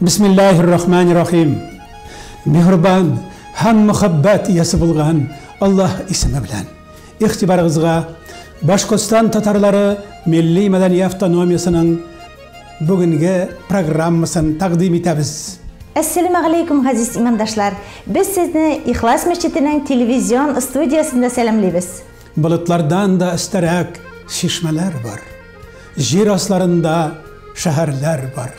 Бисмиллаһир-рахманир-рахим. Миһрбан һәм мөхәббәт иясе булган Аллаһ исеме белән. Игътибарыгызга Башкортстан татарлары милли-мәдәни автономиясенең бүгенге программасын тәкъдим итәбез. Әссәләмәгаләйкүм, газиз имандашлар! Без сезне Ихлас мәчетенең телевизион студиясендә сәламлибез. Болытлардан да өстәрәк чишмәләр бар. Җир асларында шәһәрләр бар.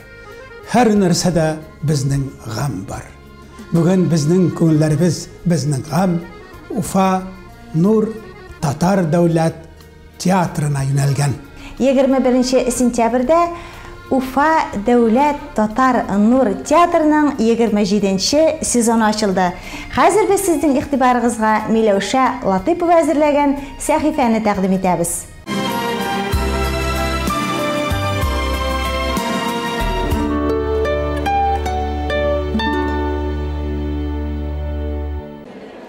Һәр нәрсәдә безнең гамь бар. Бүген безнең күңелләребез безнең гамь Уфа Нур татар дәүләт театрына юнәлгән. 21 нче сентябрьдә Уфа дәүләт татар Нур театрының 27 нче сезоны ачылды. Хәзер без сезнең игътибарыгызга Миләүшә Латыйпова әзерләгән сәхифәне тәкъдим итәбез.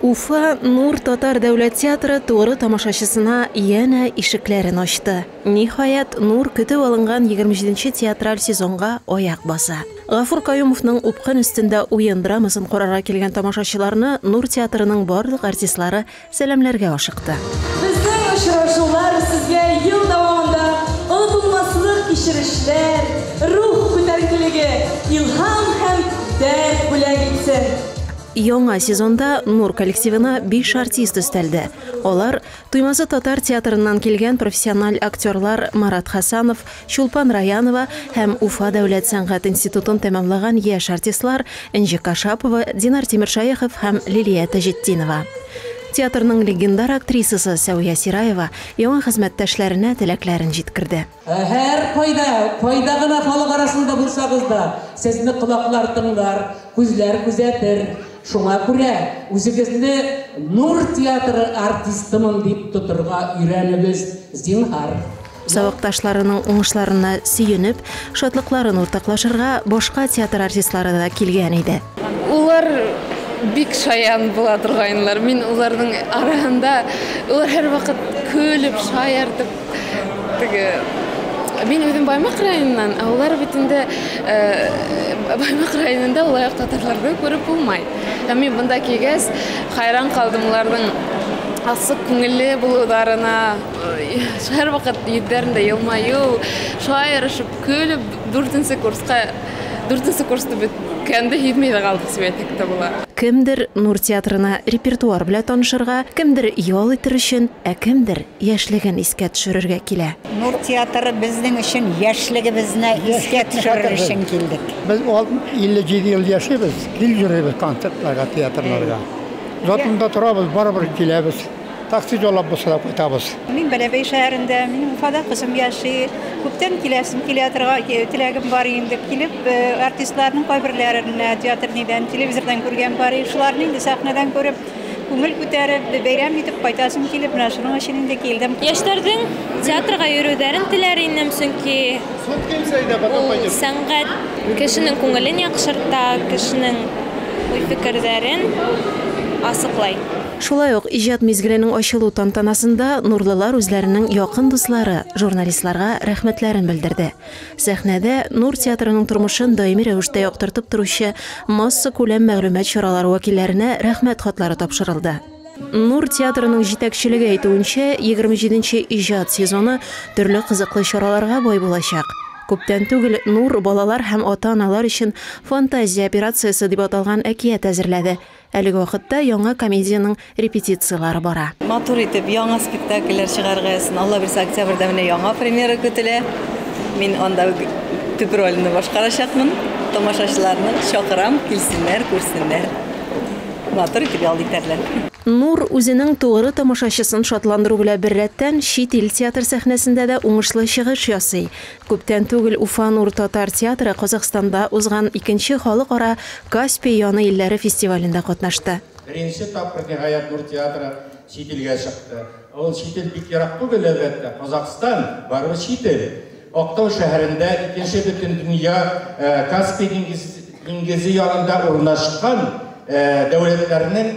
Уфа Нур татар дәүләт театры туры тамашачысына янә ишекләрен ачты. Ниһаять, Нур көтеп алынган 27-нче театраль сезонга аяк баса. Гафур Каюмовның Упкын өстендә уен драмасын карарга килгән тамашачыларны Нур театрының барлык артистлары Сәламләргә ашыкты. Безнең очрашулар сезгә ел дәвамында онытылмаслык кичерешләр, рух күтәренкелеге, илһам һәм дәрт бүләк итсен! Яңа сезонда Нур коллективына биш артист өстәлде. Алар Туймазы татар театрыннан килгән профессиональ актерлар Марат Хасанов, Чулпан Раянова һәм Уфа дәүләт сәнгать институтын тәмамлаган яшь артистлар Энҗе Кашапова, Динар Тимершәехов һәм Лилия Таҗетдинова. Театрның легендар актрисасы Сәвия Сираева яңа хезмәттәшләренә теләкләрен җиткерде. Һәркайда, кайда гына халык арасында булсагыз да, сезне колаклар тыңлар, күзләр күзәтер. Шуңа күрә үзегезне Нур театры артистымын дип тотырга өйрәнегез, зинһар. Сабакташларының уңышларына сөенеп, шатлыкларын уртаклашырга башка театр артистлары да килгән иде. Улар бик шаян була торганнар. Мин уларның арасында, улар һәрвакыт көлеп, шаяртып, теге Мин үзем Баймак районыннан, ә улар бит инде Баймак районында ул аяк татарларны күреп булмай. Һәм мин монда килгәч, хайран калдым уларның алсу күңелле булуларына. Һәрвакыт йөзләрендә елмаю, шулай ярышып көлеп, дүртенче курска, дүртенче курсны беткәндә һизмәй дә калдык дип әйтсәк тә була. Кемдер Нур театрына репертуар белән танышырга, кемдер ял итер өчен, ә кемдер яшьлеген искә төшерергә килә. Нур театры безнең өчен яшьлегебезне искә төшерер өчен килдек. Без 57 ел яшибез, гел йөрибез концертларга, театрларга. Затонда торабыз, барыбер киләбез. Такси җайлап бусырап кайтабыз. Мин Бәләбәй шәһәрендә, минем Уфада кызым яши. Күптән киләсем килә торган, теләгем бар инде. Килеп, артистларның кайберләрен театр нидән, телевизордан күргән бар. Шуларны инде сәхнәдән күреп, күңел күтәреп, бәйрәм итеп кайтасым килеп, менә шуның өчен инде килдем. Яшьләрнең театрга йөрүләрен теләр идем, чөнки ул сәнгать кешенең күңелен яхшырта, кешенең уй-фикерләрен ачыклый. Шулай ук иҗат мизгеленең ачылу тантанасында нурлылар үзләренең якын дуслары, журналистларга рәхмәтләрен белдерде. Сәхнәдә Нур театрының тормышын даими рәвештә яктыртып торучы массакүләм мәгълүмат чаралары вәкилләренә Рәхмәт хатлары тапшырылды. Нур театрының җитәкчелеге әйтүенчә, егерме җиденче иҗат сезоны төрле кызыклы чараларга бай булачак. Күптән түгел Нур балалар һәм ата-аналар өчен Фантазия операциясе дип аталган әкият әзерләде. Әлеге вакытта яңа комедиянең репетицияләре бара. Матур итеп яңа спектакльләр чыгарыгыз. Алла бирсә, октябрьдә менә яңа премьера көтелә. Мин анда төп рольне башкарачакмын. Тамашачыларны чакырам, килсеннәр, күрсеннәр. Матур итеп ял итәрләр. Нур үзенең тугры тамашачысын шатландыру белән беррәттән, чит ил театр сәхнәсендә дә уңышлы чыгыш ясый. Күптән түгел Уфа Нур татар театры Казахстанда узган икенче халыкара Каспий яны илләре фестивалендә катнашты. Беренче тапкыр ниһаять Нур театры чит илгә чыкты. Ә ул чит ил бик ерак түгел, әлбәттә, Казахстан, барыбер чит ил. Актау шәһәрендә, икенче Бөтендөнья Каспий диңгезе янында урнашкан дәүләтләрнең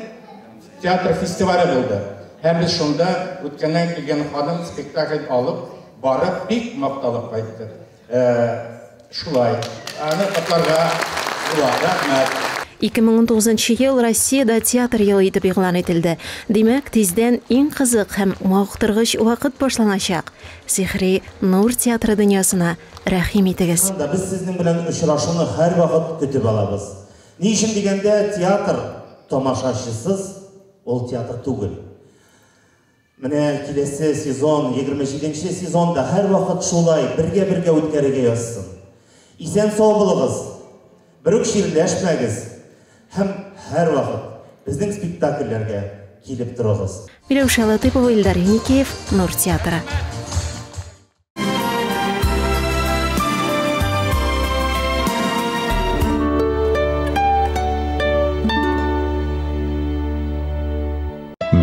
театр фестивале булды. Һәм без шунда үткәннән килгән ханым спектакль алып, Барып бик макталып кайтты. Э, шулай. Аны котларга була. Рәхмәт. 2019 нчы ел Россиядә театр елы итеп игълан ителде. Димәк, тиздән иң кызык һәм мавыктыргыч вакыт башланачак. Сихри Нур театры дөньясына рәхим итегез. Чыннан да, без сезнең белән очрашуны һәрвакыт көтеп алабыз. Ни өчен дигәндә, театр тамашачысыз, ул театр түгел. Менә киләсе сезон, 27 нче сезон да һәрвакыт шулай бергә-бергә үткәрергә язсын. Исән-сау булыгыз, бер үк чирләшмәгез һәм һәрвакыт безнең спектакльләргә килеп торыгыз. Миләүшә Латыйпова, Илдар Еникеев, Нур театры.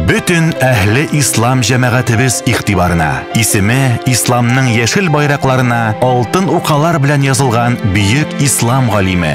Бөтен әһле ислам җәмәгатебез игътибарына. Исеме исламның яшел байракларына алтын укалар белән язылган бөек ислам галиме,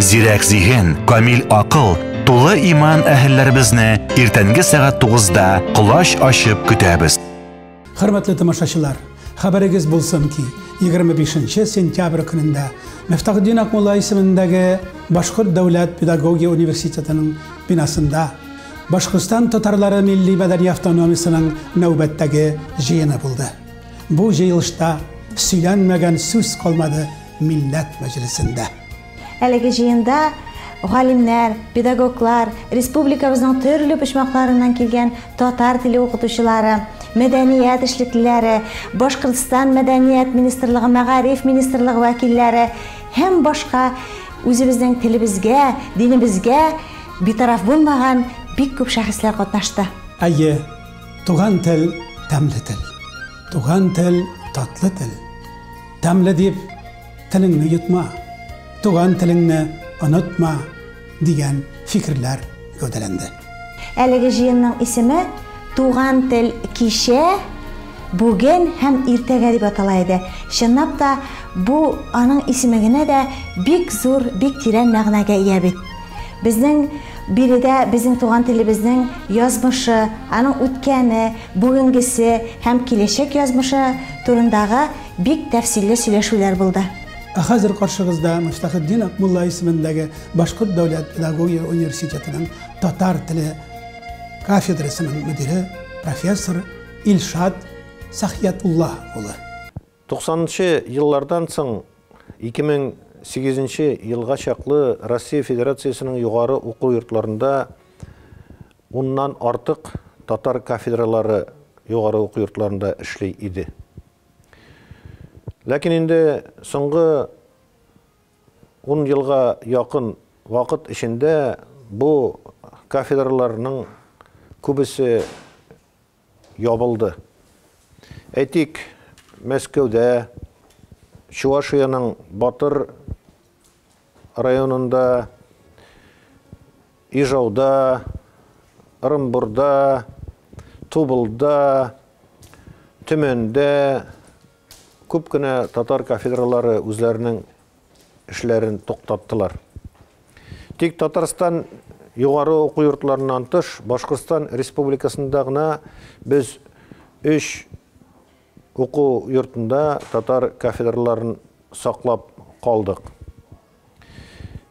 Зирәк зиһен, камил акыл, тулы иман әһелләребезне иртәнге сәгать 9-да колач ачып көтәбез. Хөрмәтле тамашачылар, хәбәрегез булсын ки, 25 сентябрь көнендә Мифтахдин Акмулла исемендәге Башкорт дәүләт педагогия университетының бинасында Башкортстан татарлары милли мәдәни автономиясенең нәүбәттәге җыены булды. Бу җыелышта сөйләнмәгән сүз калмады Милләт мәҗлесендә. Әлеге җыенда галимнәр, педагоглар, республикабызның төрле почмакларыннан килгән татар теле укытучылары, мәдәният эшлеклеләре, Башкортстан мәдәният министрлыгы, мәгариф министрлыгы вәкилләре һәм башка үзебезнең телебезгә, динебезгә битараф булмаган бик күп шәхесләр катнашты. Әйе, туган тел, тәмле тел. Туган тел, татлы тел. Тәмле дип телеңне йотма, туган телеңне онытма дигән фикерләр гәүдәләнде. Әлеге җыенның исеме Туган тел кичә, бүген һәм иртәгә дип атала иде. Чынлап та, бу аның исеме генә дә бик зур, бик тирән мәгънәгә ия бит. Безнең биредә безнең туган телебезнең язмышы, аның үткәне, бүгенгесе һәм киләчәк язмышы турындагы бик тәфсилле сөйләшүләр булды. Ә хәзер каршыгызда Мифтахетдин Акмулла исемендәге Башкорт дәүләт педагогия университетының татар теле кафедрасының мөдире, профессор Илшат Сәхиятулла улы. Туксанынчы еллардан соң 2008 нче елга чаклы Россия Федерациясенең югары уку йортларында уннан артык татар кафедралары югары уку йортларында эшли иде. Ләкин инде соңгы ун елга якын вакыт эчендә бу кафедраларның күбесе ябылды. Әйтик, Мәскәүдә, Чувашиянең Батыр районында, Ижауда, Ырынбурда, Тубылда, Төмәндә күп кенә татар кафедралары үзләренең эшләрен туктаттылар. Тик Татарстан югары уку йортларыннан тыш, Башкортстан Республикасында гына без өч уку йортында татар кафедраларын саклап калдык.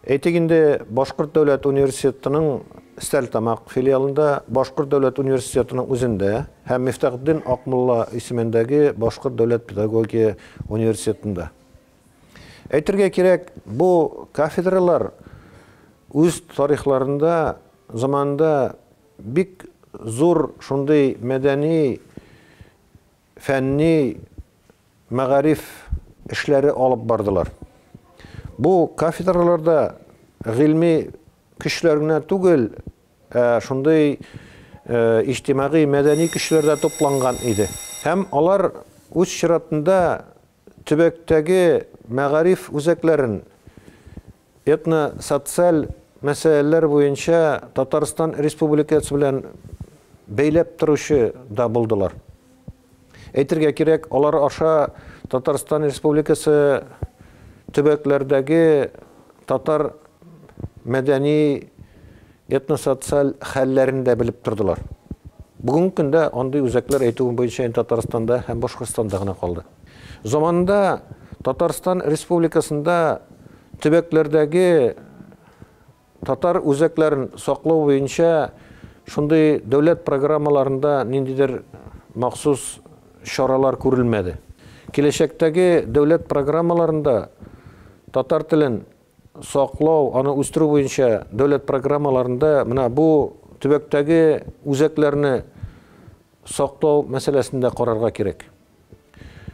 Әйтик инде, Башкорт дәүләт университетының Стәлтамак филиалында, Башкорт дәүләт университетының үзендә һәм Мифтахетдин Акмулла исемендәге Башкорт дәүләт педагогия университетында. Әйтергә кирәк, бу кафедралар үз тарихларында, заманында бик зур шундый мәдәни, фәнни, мәгариф эшләре алып бардылар. Бу кафедраларда гыйльми көчләр генә түгел, ә шундый иҗтимагый, мәдәни көчләр дә тупланган иде. Һәм алар үз чиратында Төбәктәге мәгариф үзәкләрен этно-социаль мәсьәләләр буенча Татарстан Республикасы белән бәйләп торучы да булдылар. Әйтергә кирәк, алар аша Татарстан Республикасы төбәкләрдәге татар мәдәни этносоциаль хәлләрен дә белеп тордылар. Бүгенге көндә андый үзәкләр әйтүең буенча инде Татарстанда һәм Башкортстанда гына калды. Заманында Татарстан Республикасында төбәкләрдәге татар үзәкләрен саклау буенча шундый дәүләт программаларында ниндидер махсус чаралар күрелмәде. Киләчәктәге дәүләт программаларында татар телен саклау, аны үстерү буенча дәүләт программаларында менә бу төбәктәге үзәкләрне саклау мәсьәләсен дә карарга кирәк.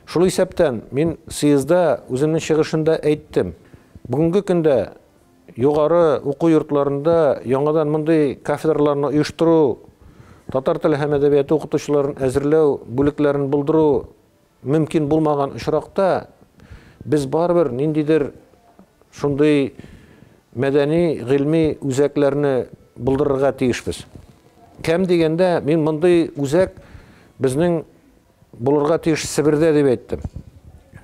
Шул исәптән мин съездда үземнең чыгышында әйттем. Бүгенге көндә югары уку йортларында яңадан мондый кафедраларны оештыру, татар теле һәм әдәбияты укытучыларын әзерләү бүлекләрен булдыру Мөмкин булмаган очракта, без барыбер ниндидер шундый мәдәни, гыйльми үзәкләрне булдырырга тиешбез. Кәм дигәндә, мин мондый үзәк безнең булырга тиеш Себердә дип әйттем.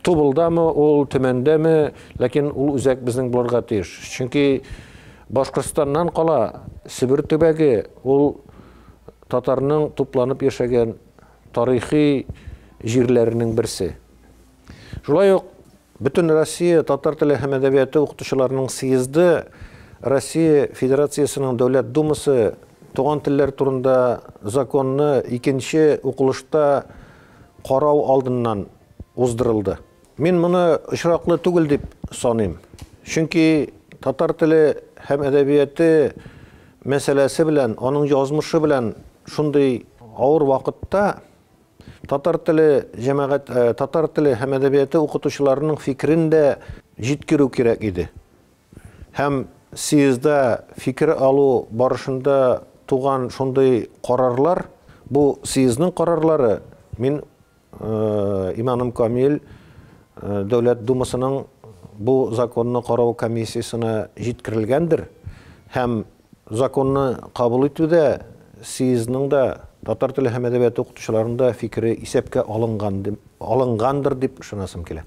Тубылдамы ул, Төмәндәме, ләкин ул үзәк безнең булырга тиеш. Чөнки Башкортстаннан кала Себер төбәге, ул татарның тупланып яшәгән тарихи җирләренең берсе. Шулай ук Бөтенроссия татар теле һәм әдәбияты укытучыларының съезды Россия Федерациясенең Дәүләт Думасы туган телләр турында законны икенче укылышта карау алдыннан уздырылды. Мин моны очраклы түгел дип саныйм. Чөнки татар теле һәм әдәбияты мәсьәләсе белән, аның язмышы белән шундый авыр вакытта татар теле җәмәгать, э, татар теле һәм әдәбияты укытучыларының фикерен дә җиткерү кирәк иде. Һәм съездда фикер алу барышында туган шундый карарлар, бу съездның карарлары, мин Иманым камил, Дәүләт Думасының бу законны карау комиссиясенә җиткерелгәндер һәм законны кабул итүдә съездның да, татар теле һәм әдәбияты укытучыларының да фикере исәпкә алынган, алынгандыр дип ышанасым килә.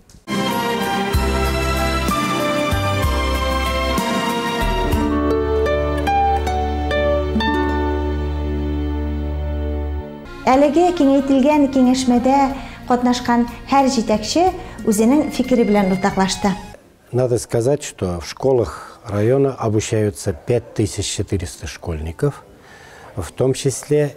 Әлеге киңәйтелгән киңәшмәдә катнашкан һәр җитәкче үзенең фикере белән уртаклашты. Надо сказать, что в школах района обучаются 5400 школьников, в том числе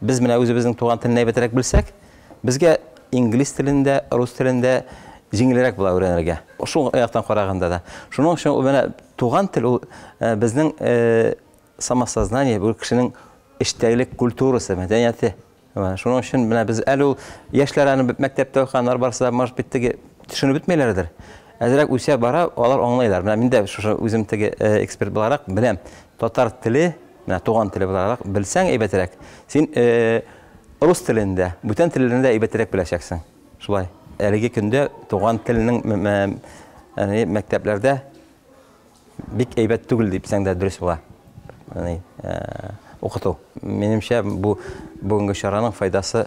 Без менә үзебезнең туган телне әйбәтрәк белсәк, безгә инглиз телен дә, рус телен дә җиңелрәк була өйрәнергә. Шул яктан караганда да. Шуның өчен ул менә туган тел ул э, безнең э, самосознание, бу кешенең эчтәгелек культурасы, мәдәнияте. Шуның өчен менә без әле ул яшьләр аны мәктәптә укыганнар барысы да, может быть, теге төшенеп бетмәйләрдер. Әзрәк үсә бара, алар аңлайлар. Менә мин дә шушы үзем теге э, эксперт буларак беләм. Татар теле Менә туган теле буларак белсәң әйбәтрәк. Син рус телен дә, бүтән телләрне дә әйбәтрәк беләчәксең. Шулай. Әлеге көндә туган телнең яни мәктәпләрдә бик әйбәт түгел дипсәң дә дөрес була. Яни укыту. Минемчә бу бүгенге чараның файдасы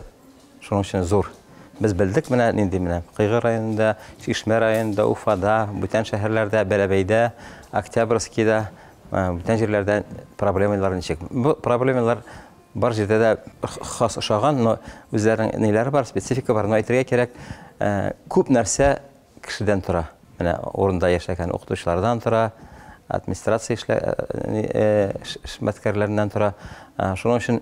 Шуның өчен зур. Без белдек менә нинди менә Кыйгы районында, Чишмә районында, Уфада, бүтән шәһәрләрдә, Бәләбәйдә, Октябрьскийда, э, бүтән җирләрдә проблемалар ничек. Бу проблемалар бар җирдә дә хас ошаган, но үзләренең ниләре бар, специфика бар. Но әйтергә кирәк, э, күп нәрсә кешедән тора. Менә урында яшәгән укытучылардан тора, администрация эшлә э, э, эшмәткәрләреннән тора. Шуның өчен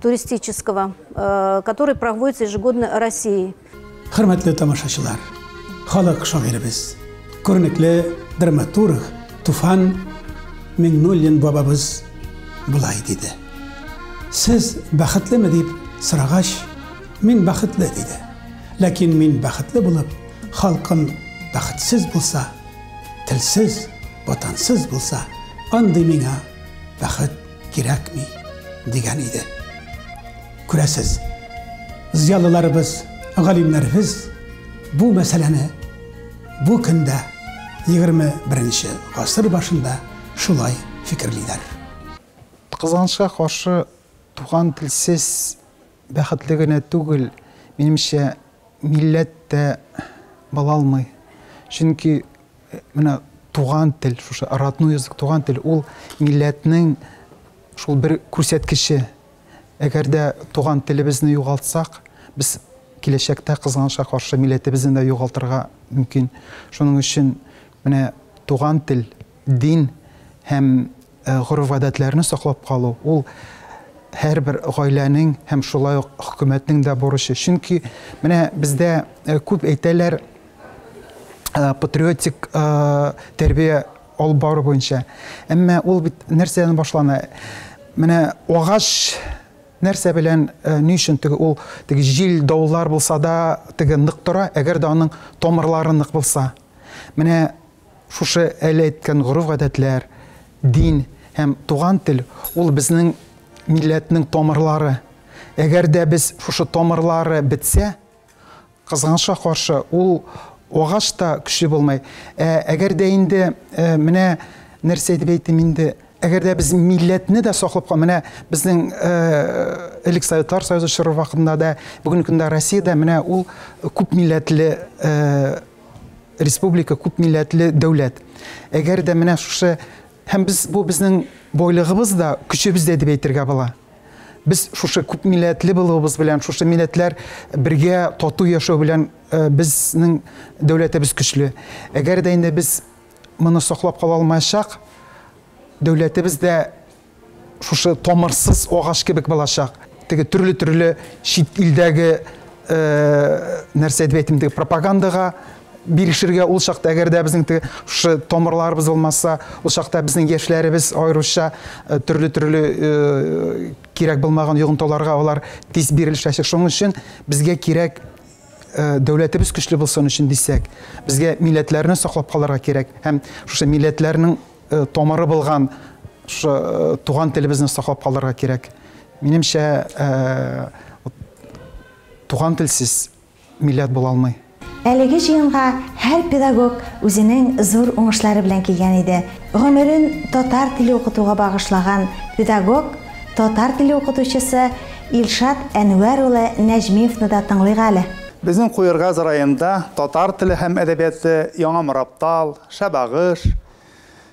туристического, э, который проводится ежегодно Россией. Хөрмәтле тамашачылар, халык шагыйребез, күренекле драматург Туфан Миңнуллин бабабыз былай диде. Сез бәхетлеме дип сорагач, мин бәхетле диде. Ләкин мин бәхетле булып, халкым бәхетсез булса, телсез, ватансыз булса, андый миңа бәхет кирәкми, дигән иде. Күрәсез, зыялыларыбыз, галимнәребез бу мәсьәләне бу көндә 21 гасыр башында шулай фикерлиләр. Кызганычка каршы, туган телсез бәхетле генә түгел, минемчә, милләт тә була алмый. Чөнки Менә туган тел, шушы родной язык, туган тел, ул милләтнең шул бер күрсәткече. Әгәр дә туган телебезне югалтсак, без киләчәктә кызганычка каршы милләтебезне дә югалтырга мөмкин. Шуның өчен менә туган тел, дин һәм Гореф-гадәтләрне саклап калу, ул һәрбер гаиләнең һәм шулай ук хөкүмәтнең дә бурычы. Чөнки менә бездә күп әйтәләр, патриотик тәрбия алып бару буенча. Әмма ул бит нәрсәдән башлана? Менә агач нәрсә белән, ни өчен теге ул теге җил, давыллар булса да, теге нык тора, әгәр дә аның тамырлары нык булса. Менә Шушы әле әйткән гореф-гадәтләр, дин һәм туган тел, ул безнең милләтнең тамырлары. Әгәр дә без шушы тамырлары бетсә, кызганычка каршы, ул агач та көчле булмый. Ә әгәр дә инде, э, менә нәрсә дип әйтим инде, әгәр дә без милләтне дә саклап кал, менә безнең э, элек Советлар Союзы чоры вакытында да, бүгенге көндә Россиядә менә ул күп милләтле э, Республика күп милләтле дәүләт. Әгәр дә менә шушы һәм без бу безнең бойлыгыбыз да, көчебез дә дип әйтергә була. Без шушы күп милләтле булуыбыз белән, шушы милләтләр бергә тату яшәү белән э, безнең дәүләтебез көчле. Әгәр дә инде без моны саклап кала алмаячак, дәүләтебез дә Шушы тамырсыз агач кебек булачак. Теге төрле-төрле чит илдәге нәрсә дип әйтим, теге пропагандага бирешергә ул чакта, әгәр дә безнең теге шушы тамырларыбыз булмаса, ул чакта безнең яшьләребез аеруча төрле-төрле кирәк булмаган йогынтыларга алар тиз бирелешәчәк. Шуның өчен безгә кирәк дәүләтебез көчле булсын өчен дисәк, безгә милләтләрне саклап калырга кирәк һәм шушы милләтләрнең Э, томыры булган шы э, туган телебезне саклап калдырырга кирәк минемчә э, туган телсез милләт була алмый Әлеге җыенга һәр педагог үзенең зур уңышлары белән килгән иде. Гомерен татар теле укытуга багышлаган педагог, татар теле укытучысы Илшат Әнвәр улы Нәҗмиевны да тыңлыйк әле. Безнең Куергаз районында татар теле һәм әдәбияты Яңа Мораптал, Шәбагыш,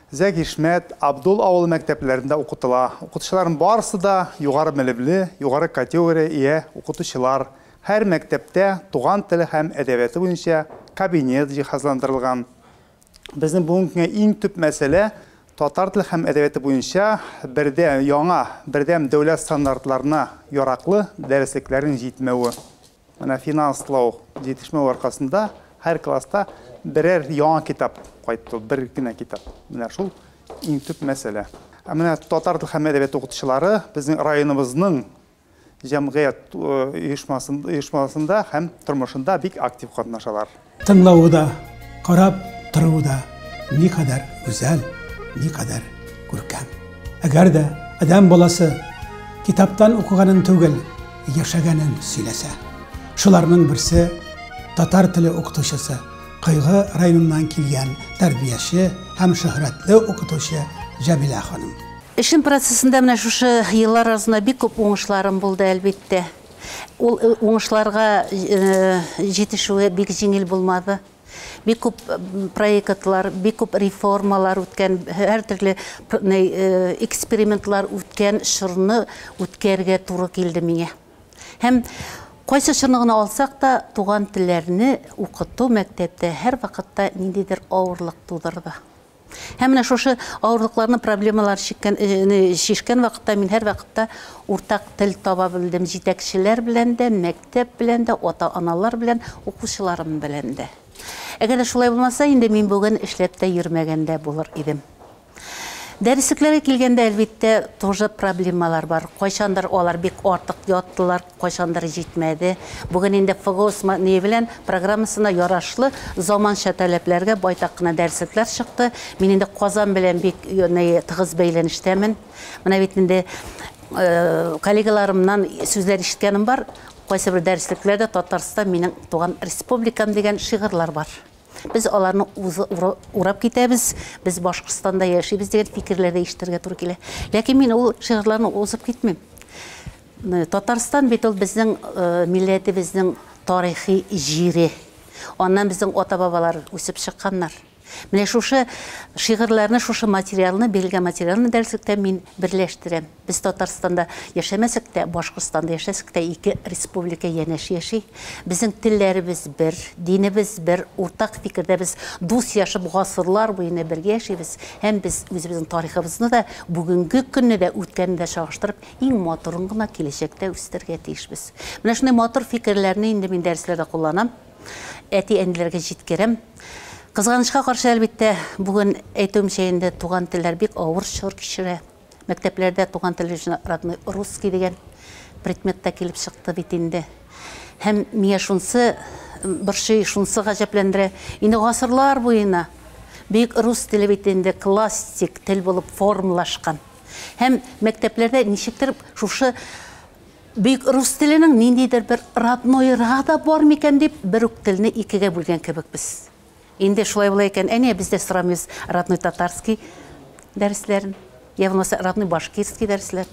Зәгишмәт, Абдул авылы мәктәпләрендә укытыла. Укытучыларның барысы да югары белемле, югары категория ия укытучылар. Һәр мәктәптә туган теле һәм әдәбияты буенча кабинет җиһазландырылган. Безнең бүгенге көнгә иң төп мәсьәлә, татар теле һәм әдәбияты буенча бердә, яңа, бердәм дәүләт стандартларына яраклы дәреслекләрнең җитмәве. Менә финанслау җитешмәү аркасында һәр класста берәр яңа китап кайтты, бер генә китап. Менә шул иң төп мәсьәлә. Ә менә татар тел һәм әдәбият укытучылары безнең районыбызның җәмгыять оешмасында һәм тормышында бик актив катнашалар. Тыңлавы да, карап тору да никадәр гүзәл, никадәр күркәм. Әгәр дә адәм баласы китаптан укыганын түгел, яшәгәнен сөйләсә. Шуларның берсе татар теле укытучысы, Кыйгы районыннан килгән тәрбияче һәм шөһрәтле укытучы Җәмилә ханым. Эшем процессында менә шушы еллар арасында бик күп уңышларым булды, әлбиттә. Ул уңышларга җитешүе бик җиңел булмады. Бик күп проектлар, бик күп реформалар үткән, һәр төрле экспериментлар үткән чорны үткәргә туры килде миңа. Һәм кайсы чорны гына алсак та, туган телләрне укыту мәктәптә һәрвакытта ниндидер авырлык тудырды. Һәм менә шушы авырлыкларны, проблемалар чиккән, шешкән вакытта мин һәрвакытта уртак тел таба белдем җитәкчеләр белән дә, мәктәп белән дә, ата-аналар белән, укучыларым белән дә. Әгәр дә шулай булмаса, инде мин бүген эшләп тә йөрмәгән дә булыр идем. Дәреслекләргә килгәндә, әлбиттә, тоже проблемалар бар. Кайчандыр алар бик артык яттылар, Кайчандыр җитмәде. Бүген инде ФГОС Мадни белән программасына ярашлы заманча таләпләргә байтак кына дәреслекләр чыкты. Мин инде Казан белән бик тыгыз бәйләнештәмен. Менә бит инде коллегаларымнан сүзләр ишеткәнем бар, кайсыбер дәреслекләрдә Татарстан минем туган республикам дигән шигырьләр бар. Без аларны урап китәбез, без Башкортстанда яшибез дигән фикерләр дә ишетергә туры килә. Ләкин мин ул шигырьләрне узып китмим. Татарстан бит ул безнең милләтебезнең тарихи җире. Аннан безнең ата-бабалар үсеп чыкканнар. Менә шушы шигырьләрне, шушы материалны, бирелгән материалны дәреслектә мин берләштерәм. Без Татарстанда яшәмәсәк тә, Башкортстанда яшәсәк тә, ике республика янәш яши. Безнең телләребез бер, динебез бер, уртак фикердә без дус яшәп, гасырлар буена бергә яшибез. Һәм без үзебезнең тарихыбызны да, бүгенге көнне дә, үткәнне дә чагыштырып, иң матурын гына киләчәктә үстерергә тиешбез. Менә шундый матур фикерләрне инде мин дәресләрдә кулланам, әти-әниләргә җиткерәм. Кызганычка каршы, әлбиттә, бүген әйтүемчә инде туган телләр бик авыр чор кичерә. Мәктәпләрдә туган тел өчен родной русский дигән предмет та килеп чыкты бит инде. Һәм миңа шунсы борчый, шунсы гаҗәпләндерә. Инде гасырлар буена бөек рус теле бит инде классик тел булып формалашкан. Һәм мәктәпләрдә ничектер шушы бөек рус теленең ниндидер бер роднойрга да бар микән дип, бер үк телне икегә бүлгән кебек без. Инде шулай була икән, әнә без дә сорамыйбыз родной татарский дәресләрен, я булмаса родной башкирский дәресләр.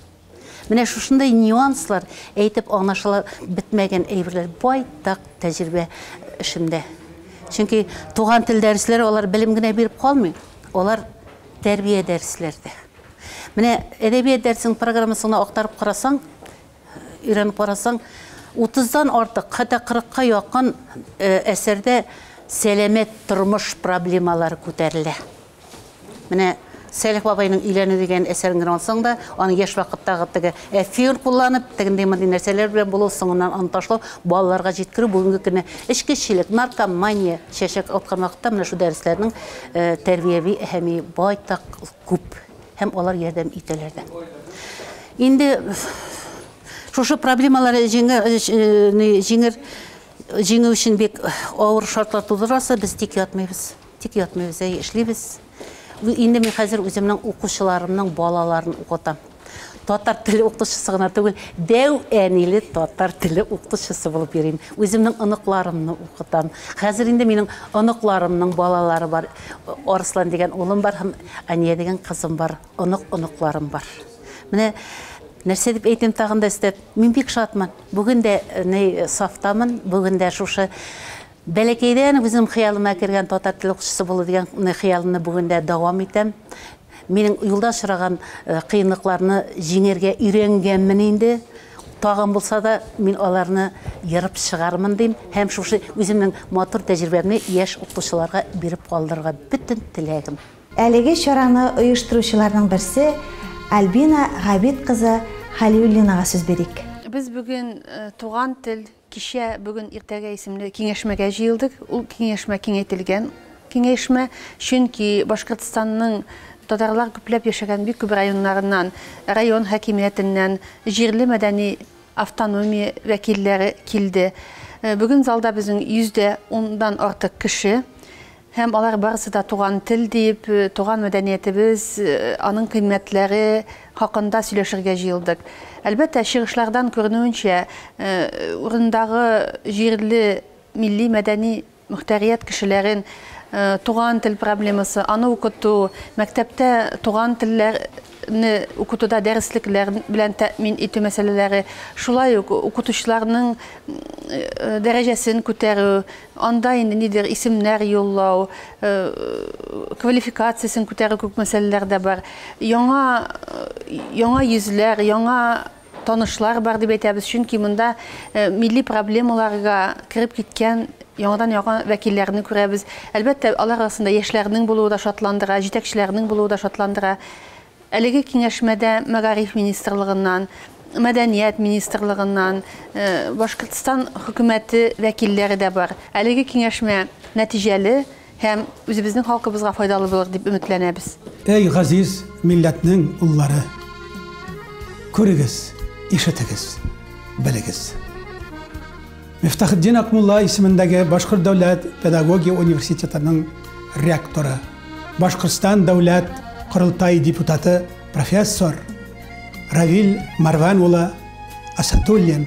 Менә шушындый нюанслар әйтеп аңлашыла бетмәгән әйберләр байтак тәҗрибә эшемдә. Чөнки туган тел дәресләре алар белем генә биреп калмый, алар Тәрбия дәресләре дә. Менә әдәбият дәресенең программасын гына актарып карасаң, өйрәнеп карасаң, 30-дан артык, хәтта 40-ка якын әсәрдә сәламәт тормыш проблемалары күтәрелә. Менә Сәлих бабайның өйләнү дигән әсәрен генә алсаң да, аның яшь вакыттагы теге Эфир кулланып, тегенди-мондый нәрсәләр белән булу, соңыннан аны ташлау, балаларга җиткерү, бүгенге көнне эчкечелек, наркомания чәчәк аткан вакытта менә шул дәресләрнең тәрбияви әһәмие байтак күп һәм алар ярдәм итәләр дә. Инде шушы проблемалар җиңер җиңү өчен бик авыр шартлар тудырасы, без тик ятмыйбыз. Тик ятмыйбыз, әйе, эшлибез. Инде мин хәзер үземнең укучыларымның балаларын укытам. Татар теле укытучысы гына түгел, дәү әниле татар теле укытучысы булып йөрим. Үземнең оныкларымны укытам. Хәзер инде минем оныкларымның балалары бар. Арслан дигән улым бар һәм Ания дигән кызым бар. Онык оныкларым бар. Менә нәрсә дип әйтим тагын да өстәп, мин бик шатмын. Бүген дә э, сафтамын, бүген дә шушы Бәләкәйдән үзем хыялыма кергән татар теле укытучысы булу дигән хыялымны бүген дә дәвам итәм. Минем юлда очраган кыенлыкларны җиңәргә өйрәнгәнмен инде. Тагын булса да, мин аларны ерып чыгармын, дим һәм шушы үземнең матур тәҗрибәмне яшь укытучыларга биреп калдырырга бөтен теләгем. Әлеге чараны оештыручыларның берсе Альбина Габит кызы Хәлиуллинага сүз бирик. Без бүген туган тел, Кичә, бүген, иртәгә исемле киңәшмәгә җыелдык. Ул киңәшмә киңәйтелгән киңәшмә, чөнки Башкортстанның татарлар күпләп яшәгән бик күп районнарыннан, район хакимиятеннән, җирле мәдәни автономия вәкилләре килде. Бүген залда безнең йөз дә ундан артык кеше. Һәм алар барысы да туган тел дип, туган мәдәниятебез, аның кыйммәтләре хакында сөйләшергә җыелдык. Әлбәттә, чыгышлардан күренүенчә, урындагы җирле милли-мәдәни мөхтәрият кешеләрен туган тел проблемасы, аны укыту, мәктәптә туган телләр, не укытуда дәреслекләр белән тәэмин итү мәсьәләләре, шулай ук укытучыларның дәрәҗәсен күтәрү, анда инде нидер исемнәр юллау, квалификациясен күтәрү кебек мәсьәләләр дә бар. Яңа яңа йөзләр, яңа Танышлар бар дип әйтәбез, чөнки монда милли проблемаларга кереп киткән яңадан-яңа вәкилләрне күрәбез. Әлбәттә, алар арасында яшьләрнең булуы да шатландыра, җитәкчеләрнең булуы да шатландыра. Әлеге киңәшмәдә Мәгариф министрлыгыннан, Мәдәният министрлыгыннан, Башкортстан хөкүмәте вәкилләре дә бар. Әлеге киңәшмә нәтиҗәле. Һәм үзебезнең халкыбызга файдалы булыр дип өметләнәбез. Әй газиз милләтнең уллары! Күрегез, ишетегез, белегез! Мифтахетдин Акмулла исемендәге Башкорт дәүләт педагогия университетының ректоры, Башкортстан дәүләт корылтай депутаты профессор Равиль Марван улы Асатуллин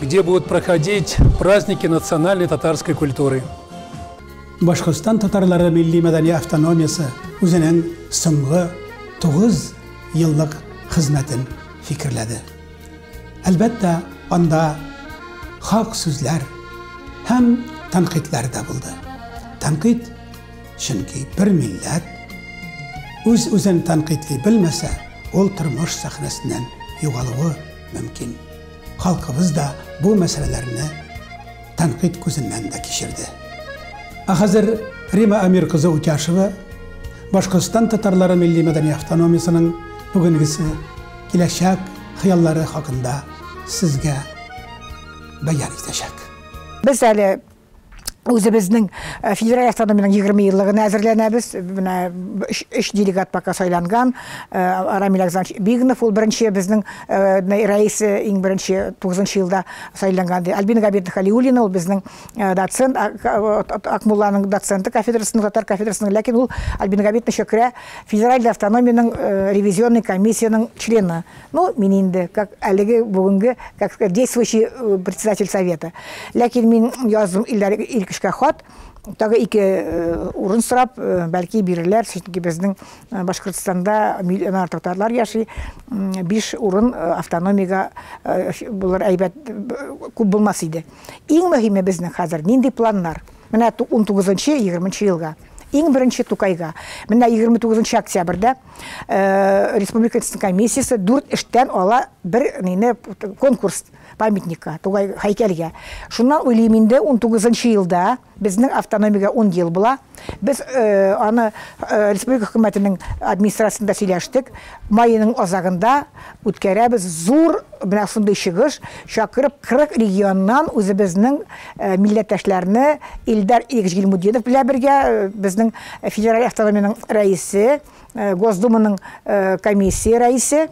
где будут проходить праздники национальной татарской культуры. Башкортстан татарлары милли мәдәни автономиясе үзенең соңгы 9 еллык хезмәтен фикерләде. Әлбәттә, анда хак сүзләр һәм тәнкыйтьләр дә булды. Тәнкыйть чөнки бер милләт үз-үзен тәнкыйтьли белмәсә, ул тормыш сәхнәсеннән югалуы мөмкин. Халкыбыз да бу мәсьәләләрне тәнкыйть күзеннән дә кичерде. Ә хәзер Рима Амир кызы Утяшева Башкортстан татарлары милли мәдәни автономиясенең бүгенгесе, киләчәк хыяллары хакында сезгә бәян итәчәк. Без әле Үзебезнең э, федераль автономиянең 20 еллыгына әзерләнәбез. Менә өч делегат пока сайланган. Э, Рамил Александрович Бигнов ул беренче безнең э, рәисе иң беренче 9 елда сайланган. Альбина Габидовна Халиуллина ул безнең доцент, Акмулланың доценты кафедрасының, татар кафедрасының, ләкин ул Альбина Габидовна Шөкрә федераль автономиянең ревизионный комиссияның члены. Ну, мин инде, как әлеге бүгенге, как сказать, действующий э, председатель совета. Ләкин мин яздым Илдар Иркешкә хат, тагы ике э, урын сорап, э, бәлки бирерләр, чөнки безнең Башкортстанда миллион артык татарлар яши, биш урын автономиягә булыр әйбәт күп булмас иде. Иң мөһиме безнең хәзер нинди планнар? Менә 19-20 елга. Иң беренче Тукайга. Менә 29 октябрьдә Э, республика комиссиясы дүрт эштән ала бер нене конкурс памятникка тугай һәйкәлгә шуннан уйлыйм инде он тугызынчы елда безнең автономиягә он ел була без э, аны э, республика хөкүмәтенең администрациясендә сөйләштек майының азагында Үткәрәбез зур менә шундый чыгыш, чакырып 40 регионнан үзебезнең э, милләттәшләрне Илдар Игоревич Гилмудинов белән бергә э, безнең федераль автономиянең рәисе, э, Госдуманың комиссия рәисе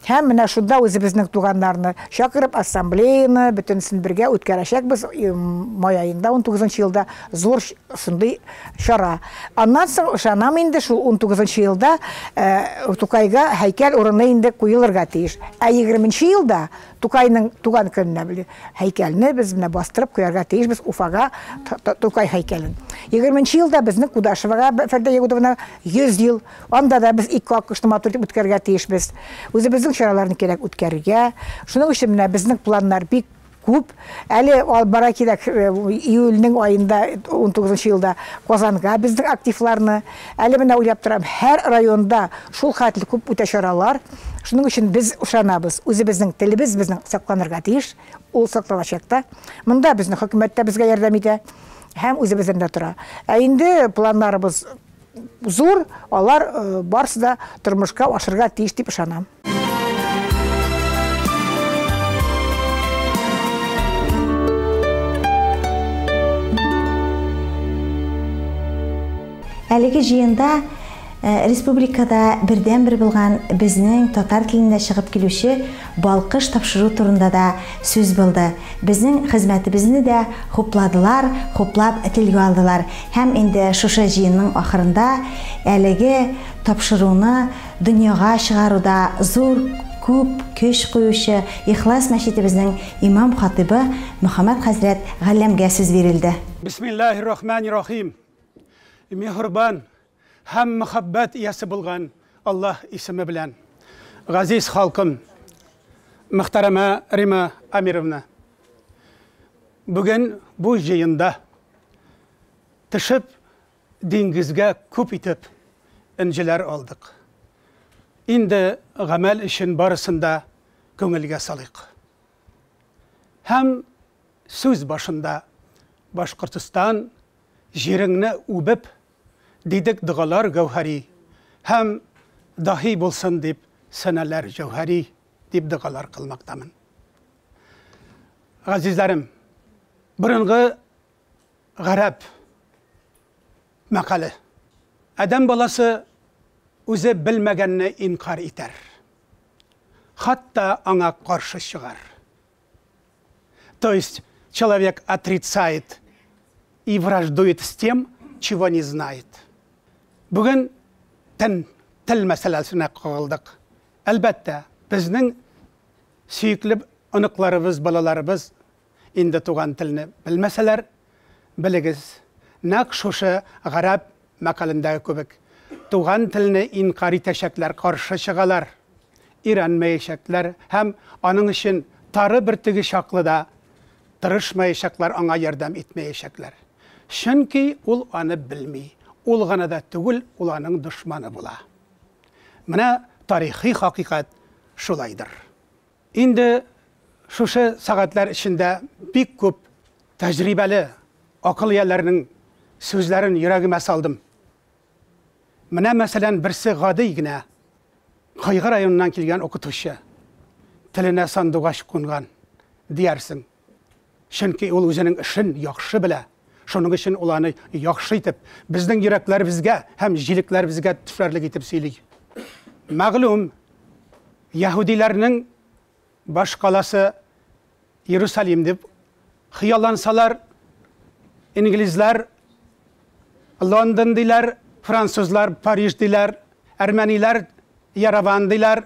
һәм менә шунда үзебезнең туганнарны чакырып ассамблеяны бөтенесен бергә үткәрәчәкбез май аенда 19 елда зур шундый Чара. Аннан соң, ышанам инде, шул унтугызынчы елда Тукайга һәйкәл урыны инде куелырга тиеш. Ә егерменче елда, Тукайның туган көненә, һәйкәлне без менә бастырып куярга тиешбез Уфага Тукай һәйкәлен. Егерменче елда безнең Кудашевага Фәрдә Ягудовна 100 ел. Анда да без ике аккошны матур итеп үткәрергә тиешбез. Үзебезнең чараларны кирәк үткәрергә. Шуның өчен менә безнең планнар бик күп. Әле албара кирәк, э, июльнең аенда, 19 елда Казанга безнең активларны. Әле менә уйлап торам, һәр районда шул хәтле күп үтә чаралар. Шуның өчен без ышанабыз, үзебезнең телебез безнең сакланырга тиеш, ул сакланачак та. Монда безнең хөкүмәт тә безгә ярдәм итә һәм үзебездән дә тора. Ә инде планнарыбыз Зур, алар барсы да тормышка ашырга тиеш дип ышанам. Әлеге җыенда республикада бердәнбер булган безнең татар телендә чыгып килүче Балкыш тапшыру турында да сүз булды. Безнең хезмәтебезне дә хупладылар, хуплап телгә алдылар һәм инде шушы җыенның ахырында әлеге тапшыруны дөньяга чыгаруда зур, күп көч куючы Ихлас мәчетебезнең имам-хатыйбы Мөхәммәт хәзрәт Галләмгә сүз бирелде. Бисмиллаһи рахмани рахим. Миһербан, Һәм мәхәббәт иясе булган Аллаһ исеме белән. Газиз халкым, мөхтәрәмә Рима Амировна! Бүген бу җыенда төшеп диңгезгә күп итеп энҗеләр алдык. Инде гамәл өчен барысын да күңелгә салыйк. Һәм сүз башында Башкортостан җиреңне үбеп, Дидек догалар гәүһәри, Һәм даһи булсын дип сәнәләр җәүһәри, дип догалар кылмактамын. Газизләрем, борынгы гарәп мәкале. Адәм баласы үзе белмәгәнне инкарь итәр, хатта аңа каршы чыгар. То есть человек отрицает и враждует с тем, чего не знает. Бүген тен тел мәсьәләсенә кагылдык. Әлбәттә, безнең сөекле оныкларыбыз, балаларыбыз инде туган телне белмәсәләр, белегез, нәкъ шушы гарәп мәкалендәге кебек, туган телне инкарь итәчәкләр, каршы чыгалар, өйрәнмәячәкләр һәм аның өчен тары бөртеге чаклы да тырышмаячаклар, аңа ярдәм итмәячәкләр. Чөнки ул аны белми, ул гына да түгел, ул аның дошманы була. Менә тарихи хакыйкать шулайдыр. Инде шушы сәгатьләр эчендә бик күп тәҗрибәле акыл ияләренең сүзләрен йөрәгемә салдым. Менә, мәсәлән, берсе гади генә Кыйгы районыннан килгән укытучы, Теленә сандугач кунган, диярсең. Чөнки ул үзенең эшен яхшы белә, шуның өчен ул аны яхшы итеп, безнең йөрәкләребезгә һәм җилекләребезгә төшәрлек итеп сөйли. Мәгълүм, яһүдиләрнең баш каласы Иерусалим дип хыяллансалар, инглизләр Лондон диләр, французлар Париж диләр, әрмәниләр Ярован диләр,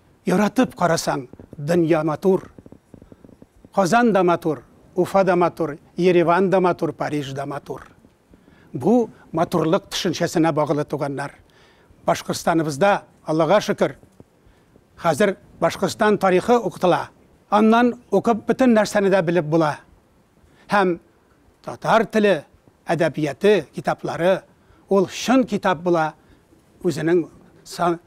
Яратып карасаң, дөнья матур. Казан да матур, Уфа да матур, Ереван да матур, Париж да матур. Бу, матурлык төшенчәсенә багылы, туганнар. Башкортстаныбызда, Аллага шөкер, хәзер Башкортстан тарихы укытыла. Аннан укып бөтен нәрсәне дә белеп була. Һәм Татар теле әдәбияты китаплары ул чын китап була, үзенең сан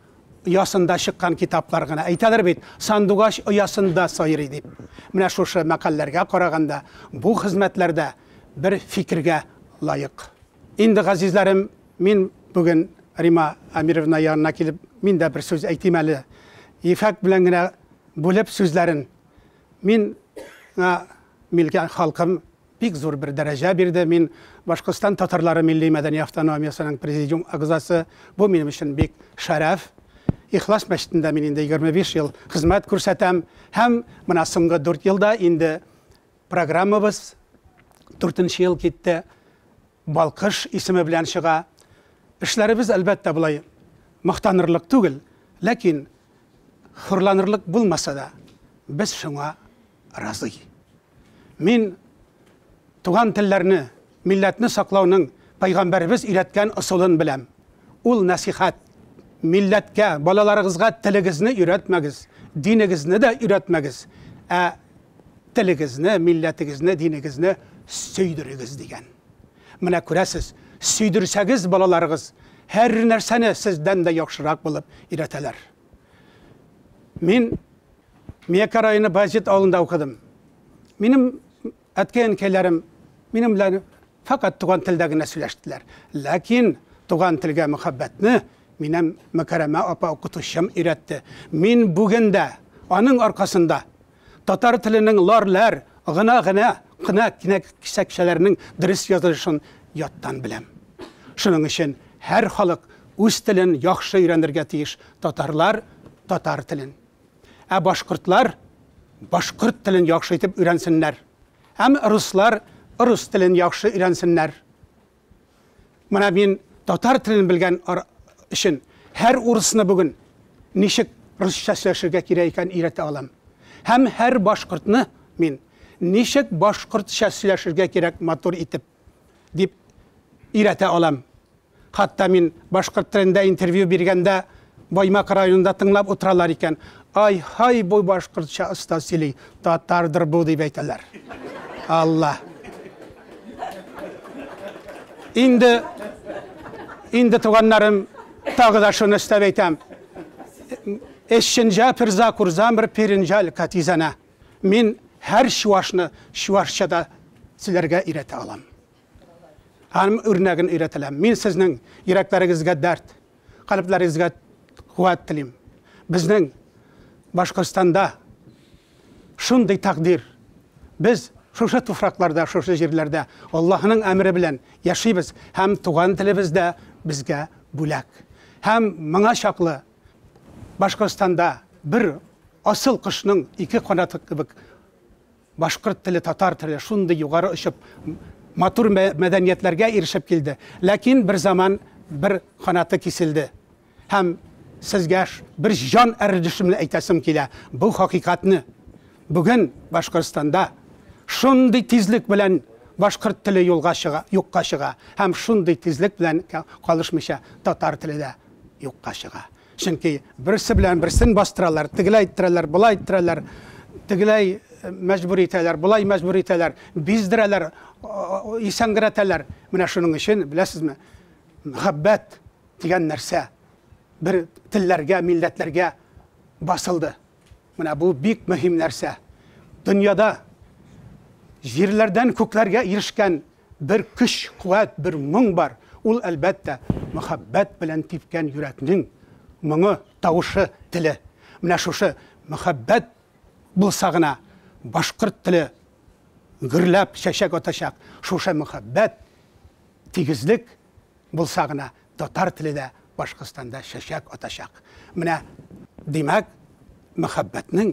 оясында чыккан китаплар гына. Әйтәләр бит, сандугач оясында сайрый дип. Менә шушы мәкальләргә караганда, бу хезмәтләр дә бер фикергә лаек. Инде, газизләрем, мин бүген Рима Әмировна янына килеп, мин дә бер сүз әйтим әле. Ефәк белән генә бүлеп сүзләрен. Мин ңа милке халкым бик зур бер дәрәҗә бирде. Мин Башкортстан татарлары милли-мәдәни автономиясенең президиум агзасы. Бу минем өчен бик шәрәф. Ихлас мәчетендә мин инде 25 ел хезмәт күрсәтәм. Һәм менә соңгы дүрт елда инде программабыз дүртенче ел китте. Балкыш исеме белән чыга. Эшләребез, әлбәттә, болай мактанырлык түгел, ләкин хурланырлык булмаса да, без шуңа разый. Мин туган телләрне, милләтне саклауның Пәйгамбәребез өйрәткән ысулын беләм. Ул нәсыйхәт, милләткә, балаларыгызга телегезне өйрәтмәгез, динегезне дә өйрәтмәгез, ә телегезне, милләтегезне, динегезне сөйдерегез, дигән. Менә күрәсез, сөйдерсәгез, балаларыгыз һәр нәрсәне сездән дә яхшырак булып өйрәтәләр. Мин Мияка районы Баязит авылында укыдым. Минем әткәй-әнкәйләрем минем белән факат туган телдә генә сөйләштеләр. Ләкин туган телгә мөхәббәтне минем Мөкәрәмә апа укытучым өйрәтте. Мин бүген дә аның аркасында Татар теленең лар, ләр, гына, генә, кына кенәгсәкчәләренең дөрес язылышын яттан беләм. Шуның өчен һәр халык үз телен яхшы өйрәнергә тиеш, татарлар, татар телен. Ә башкортлар башкорт телен яхшы итеп өйрәнсеннәр. Әм руслар рус телен яхшы өйрәнсеннәр. Менә мин татар телен белгән өчен һәр урысны бүген ничек русча сөйләшергә кирәк икән өйрәтә алам. Һәм һәр башкортны мин ничек башкортча сөйләшергә кирәк матур итеп дип өйрәтә алам. Хатта мин башкорт телендә интервью биргәндә Баймак районында тыңлап утыралар икән, Ай-һай, бу башкортча оста сөйли, татардыр бу, дип әйтәләр. Алла. Инде, инде туганнарым, тагы да шуны өстәп әйтәм. Эшченҗа пирза курзан бер пиринжаль катизана. Мин һәр чуашны чуашчада сөйләргә өйрәтә алам. Аның үрнәген өйрәтәләм. Мин сезнең йөрәкләрегезгә дәрт, калебләрегезгә куәт телим. Безнең Башкортстанда шундый тәкъдир. Без шушы туфракларда, шушы җирләрдә Аллаһының әмере белән яшибез һәм туган телебез дә безгә бүләк. Һәм моңа чаклы Башкортстанда бер асыл кошның ике канаты кебек Башкорт теле, татар теле шундый югары очып, матур мәдәниятләргә ирешеп килде. Ләкин бер заман бер канаты киселде. Һәм сезгә бер җан әрдешемне әйтәсем килә. Бу хакыйкатьне. Бүген Башкортстанда шундый тизлек белән башкорт теле юлга чыга, юкка чыга. Һәм шундый тизлек белән калышмыйча татар теле дә юкка чыга. Чөнки берсе белән берсен бастыралар, тегеләй иттерәләр, болай иттерәләр, тегеләй мәҗбүр итәләр, болай мәҗбүр итәләр, биздерәләр, исәнгерәтәләр. Менә шуның өчен, беләсезме, мәхәббәт дигән нәрсә бер телләргә, милләтләргә басылды. Менә бу бик мөһим нәрсә. Дөньяда җирләрдән күкләргә ирешкән Бер көч, куәт, бер моң бар, ул, әлбәттә, мәхәббәт белән типкән йөрәкнең моңы, тавышы, теле. Менә шушы мәхәббәт булса гына, башкорт теле гөрләп чәчәк атачак, шушы мәхәббәт, тигезлек булса гына, татар теле дә Башкортстанда чәчәк атачак. Менә, димәк, мәхәббәтнең.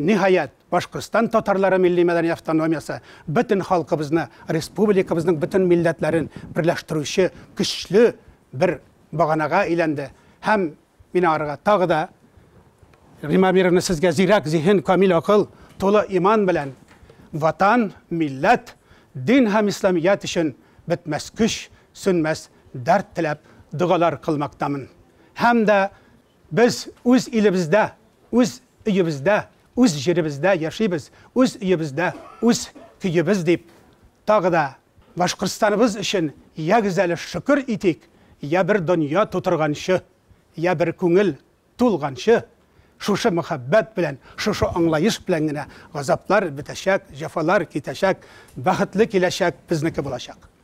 Ниһаять, Башкортстан татарлары милли-мәдәни автономиясе бөтен халкыбызны, республикабызның бөтен милләтләрен берләштерүче көчле бер баганага әйләнде һәм мин аңарга тагы да Римма Амировна, сезгә зирәк зиһен, камил акыл, тулы иман белән Ватан, милләт, дин һәм исламият өчен бетмәс көч, сүнмәс дәрт теләп догалар кылмактамын. Һәм дә Без үз илебездә, үз өебездә, үз җиребездә яшибез, үз өебездә, үз көебез дип, тагы да Башкортстаныбыз өчен ягез әле шөкер итик, я бер дөнья тутырганчы, я бер күңел тулганчы, шушы мәхәббәт белән, шушы аңлаеш белән генә газаплар бетәчәк, җәфалар китәчәк, бәхетле киләчәк безнеке булачак.